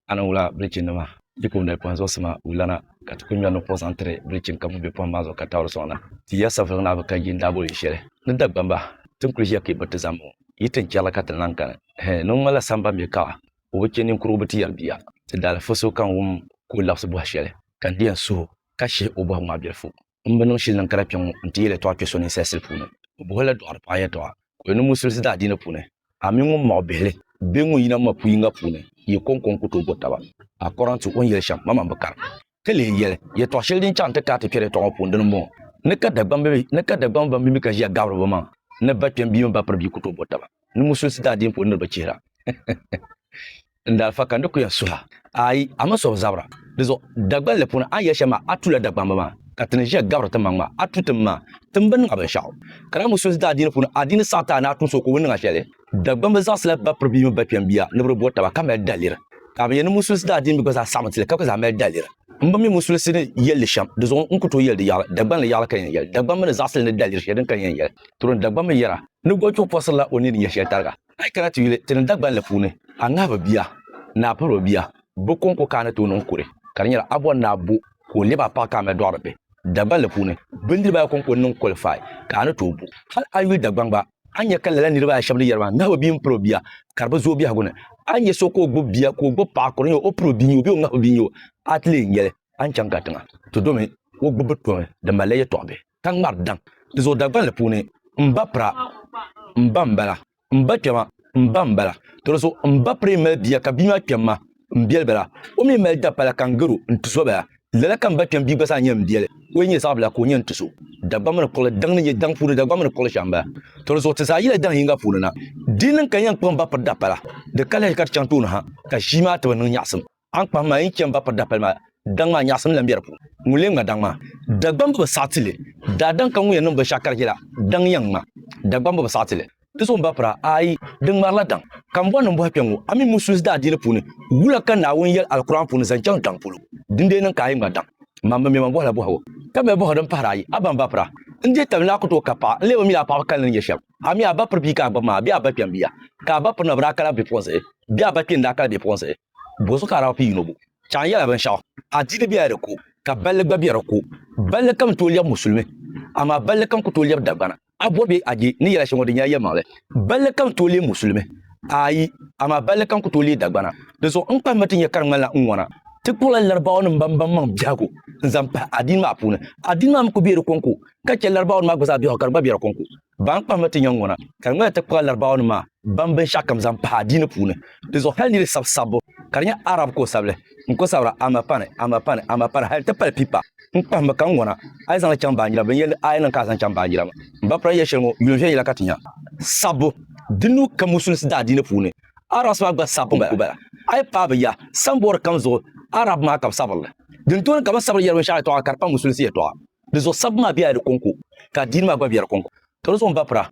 a ni wula bilichini nima bipuɣinbili pɔhim zuɣusima wulana ka ti kuli ŋmɛri nuhi kpuɣi zaŋ tiri bilichini ka ŋun be pɔhim maa zuɣu ka taɣiri sɔŋ na. Ti ya saviligi naa bi ka yi ni daa boli yi shɛli ni Dagbamba, ti ni kuli ʒiya ka yi biriti zani ŋɔ, yi tin chɛrila ka ti lan kani. Hɛ! Ni ŋun ŋmanila samba mi kaɣa, o bi chɛ ninkurugu bi ti yɛri bia. Ti daalifa so ka n wum ka o labisi bɔhi shɛli, ka n di yɛn suh o ka shihi o bɔhigu maa bilifu. N bi niŋ shili din kara kpe ŋɔ nti yi yɛltɔɣa kpe so ninsalisili puuni. O bohi la dɔɣiri paɣa yɛltɔɣa ka o yɛli ni musulisi daadiini puuni, A mini ŋun mɔɣi bihili bee ŋun yina ma pu yiŋga puuni, yi kɔŋko n-ku tooi bo taba. A kɔra nti o ni yɛli shɛm, maman bi kari. Ka leei yɛli, Yɛltɔɣa shɛli din chaŋ nti kaai ti kpɛri yɛltɔɣa ŋɔ puuni dini m-bɔŋɔ, Ni ka Dagbamba ban bimbi ka ʒiya gabiri bɛ maŋ ni ba kpɛm bia mini ba piri bia ku tooi bo taba ni musulisi daadiini puuni niriba chihira. n daa fa ka n di ku ya suha. Aai, a mi suhu zabira. Di zuɣu Dagban li puuni a ni yɛli shɛm maa, a tula Dagbamba maa, ka ti ni ʒiya gabiri tim maŋ maa, a tu tim maa. Tim bi niŋa binshɛɣu. Ka daa mi so daa adiini puuni, adiini saɣi ti a ni a tu so ka o bi niŋa shɛli. Dagban bi zaɣisila ba piri bia mini ba kpɛm bia ni bi di bɔri taba, ka mali daliri. Ka a bi yɛli ni musulisi daa adiini mi gba zaa saɣimi ti li, ka gba zaa mali daliri. M bi mi musulisi ni yɛli li shɛm, di zuɣu n ku tooi yɛli di yaɣili. Dagban li yaɣili ka yɛn yɛli. Dagban mi ni zaɣisili ni daliri shɛli din ka yɛn yɛli. Turim Dagban mi yɛra ni gɔchuɣu pɔsirila o ni di nyɛ shɛli tariga. A yi kana ti yuli ti ni Dagbanli puuni, a ŋahibu bia ni a piriba bia bɛ kɔŋko ka a ni tooi niŋ kuri ka di nyɛla a bɔri ni a bo ka o lɛbi a paɣa ka a mali dɔɣiri bihi. Dagbanli puuni, bindiriba ayi kɔŋko n-niŋ kɔlifai ka a ni tooi bo. Hal a yuli Dagbaŋ gba, a ni nya ka lala niriba ayi shɛba ni yɛri maa, ŋahibu bia m-piri o bia ka di bi zooi biɛhigu ni. A ni nya so ka o gbibi bia ka o gbibi paɣa ka di nyɛ o piri o bia n-nyɛ o bee o ŋahibu bia n-nyɛ o, a ti leei n-yɛli, A ni chaŋ katiŋa, ti domi, o gbibu bi tomi di malila yɛtɔɣ bihi. ka ŋmari daŋ ti zooi Dagbanli puuni, M ba pira, m ba m-bala, m ba kpɛma, m ba m-bala. Tɔdiso m ba piri mali bia ka bia maa kpɛm ma, m biɛli bala. O mi mali dapala ka n garo, n tiso bala. Lala ka m ba kpɛm bia gba zaa nyɛ m biɛli, o yi nyɛ zaɣibila ka o nyɛ n tiso. Dagbaŋ mini kuɣili daŋ ni nyɛ daŋ puuni dagbaŋ mini kuɣili shɛm m-bala. Tɔdiso ti zaa yila daŋ yiŋga puuni na. Di niŋ ka n yɛn kpuɣi m ba piri dapala, di ka lahi ka ti chaŋ tooni ha ka ʒii maa ti bi niŋ nyaɣisim. Aŋkpahi maa yi chani ba piri dapali maa, daŋ maa nyaɣisim lan be di puuni. Ŋun lee ŋma daŋ maa? Dagbamba bi saɣi ti li. Daadaŋ ka ŋun yɛn niŋ binshɛɣu karigi la, daŋ yɛn ŋma. Dagbamba bi saɣi ti li. Di zuɣu m-ba pira? Aai, di ŋmarila daŋ. Ka m bɔri ni m bɔhi kpɛŋŋo, a mi Musulis daadiili puuni, wula ka Naawuni yɛli Alkur'aani puuni zaŋ chaŋ daŋ polo? Dindee niŋ ka a yi ŋma daŋ? Mam bi mi ma m bɔhi la bɔhigu, ka be bɔhigu din pahiri ayi. A ba m-ba pira? N deei tabili ni a ku tooi kab paɣa, n lee bi mi la a paɣaba kalinli ni yɛli shɛm. A mi a ba piri bia ka a gbibi maa, bee a ba kpɛm bia? Ka a ba piri na bi daa kala bipuɣinsi, bee a ba kpini daa kala bipuɣinsi? Bɔzuɣu ka a daa bi pii yino bo? Chɛ a ni yɛla binshɛɣu, adiini bela di ko, ka balli gba be di ko. Balli kam tooi lɛbi musulimi, amaa balli kam ku tooi lɛbi Dagbana. A bɔri bee a je ni yɛla shɛli ŋɔ di nyɛla yɛlimaŋli? Balli kam tooi leei musulimi? Aai, amaa balli kam ku tooi leei Dagbana. Di zuɣu n kpahimma ti nya ka di ŋmanila n ŋɔna. Ti kpuɣila Laribaawanim ban baŋ maŋ biɛhigu n-zaŋ pahi adiini maa puuni. Adiini maa mi ku be di kɔŋko, ka chɛ Laribaawanim maa gba zaa biɛhigu ka di gba be di kɔŋko. Ban kpahimi ti nyaŋgona, ka di ŋmanila ti kpahila Larabawanima maa ban binshɛɣukam zaŋ pahi adiini puuni. Di zuɣu hali ni yi di sabi sabbu, ka di nyɛ Arab ka o sabi li, n ko sabira Amapani, Amapani, Amapani hali nti pali pipa. N kpahimi ka n ŋɔna, a yi zaŋ li chaŋ baanjira bɛ ni yɛli a yi niŋ ka a zaŋ chaŋ baanjira maa. M ba pula ni yɛli shɛli ŋɔ, yuun viɛnyɛla ka ti nya. Sabbu, Di nuu ka Musulinsi daa adiini puuni Arabs maa gba sabbu n-ku bala. A yi paai bɛ ya, samboori kam zuɣu Arab maa ka bɛ sabiri li. Dintɔɔni ka bɛ ni sabiri yɛli binshɛɣu yɛtɔɣa ka di pa Musulinsi yɛtɔɣa. Di zuɣu sabbu maa bela di kɔŋko, ka adiini maa gba be di kɔŋko. Ka di zuɣu m-bapira,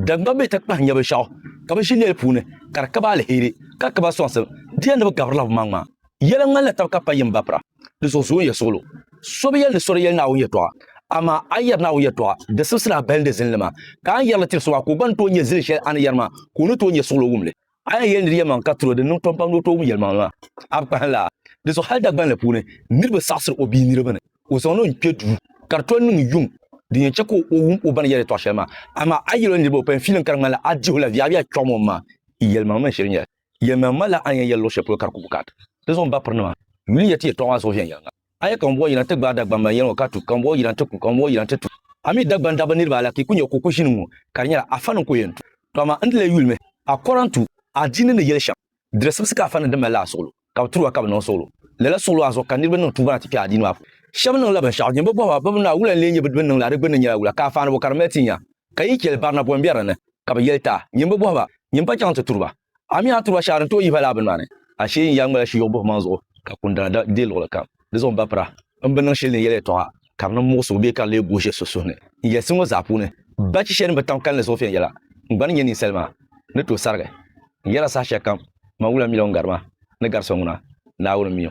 dagbamba bɛ takpahi nyɛbu shɛɣu, ka bɛ ʒi lɛli puuni, ka di ka ba aliheri, ka ka ba sɔŋsim, di yɛli ni bɛ gabirila bɛmaŋmaŋ. Yɛla ŋmanila taba ka pa yini bapira. Di zuɣu zooi ya suɣulo. So bi yɛli ni so di yɛli Naawuni yɛtɔɣa, amaa a yɛri Naawuni yɛtɔɣa, di sibisili a balindi zini li maa. Ka a ni yɛri li tiri so maa, ka o gba ni tooi nyɛ zili shɛli a ni yɛri maa, ka o ni tooi nyɛ suɣulo wum li. A ni yɛli nir yɛlimaŋli ka tiri o, di niŋ pam pam ni o tooi wum yɛlimaŋli maa. A bi kpahim laa? Di zuɣu hal Dagbanli puuni niriba saɣisir o bia niriba ni o zaŋ ni o kpe duu ka di tom niŋ yuŋ din yɛn chɛ ka o wum o ba ni yɛli yɛtɔɣ shɛli maa. Amaa a yɛl o niriba o payim fiilim ka di ŋmanila a dihi o la viɛviɛla kpiɔɣim o ma yɛlimaŋli mini shiri nyɛla yɛlimaŋli malila a ni yɛn yɛli luɣ shɛli polo ka di ku bi kana. Di zuɣu m ba pirinima, yuli n-yɛr ti yɛtɔɣ maa zuɣu viɛnyɛliŋga. A yɛ ka ŋun bɔɔ yina ti gbaai Dagbamba n-yɛli ŋɔ ka tu, ka ŋun bɔɔ yina ti ku, ka ŋun bɔɔ yina ti tu. A mi Dagban dabba niriba ala ka yi ku nya kuku ʒini ŋɔ, ka di nyɛla Afa ni n-ku yɛn tu. Tɔ amaa n di lee yuli mi, a kɔra n-tu adiini ni yɛli shɛm. Dirisibisi ka Afa niŋ din mali la a suɣulo, ka bɛ tiri o a ka bɛ niŋ suɣulo. Lala suɣulo maa zuɣu ka niriba niŋ tuuba na ti kpe adiini maa puuni. Shɛba niŋla binshɛɣu din bi bɔhi ba, bɛbi naa wula n-lee nyɛ bɛ ni niŋ la di gbinni nyɛla wula, ka afaani bɔ ka di mali ti nya? Ka yi chɛli barinabɔi m-be di ni? Ka bɛ yɛli, Taa! Nyin bi bɔhi ba, nyin pa chaŋ nti turi ba. A mi a turiba shɛhi din tooi yihi ba laa bini maa ni, ashee n-yaa ŋmala shiyɔɣu buhimaŋ zuɣu ka kundana da deei luɣili kam. Di zuɣu m ba pira, m bi niŋ shɛli ni yɛli yɛltɔɣa ka di niŋ muɣisigu bee ka di lee gooi so suhu ni. N yɛlisi ŋɔ zaa puuni, bachi shɛli din bi tam kalinli zuɣu viɛnyɛla n gba ni nyɛ ninsali maa ni tooi sarigi n yɛla saha shɛli kam. Man wula mi la ŋun gari ma ni gari so ŋuna, Naawuni mi o.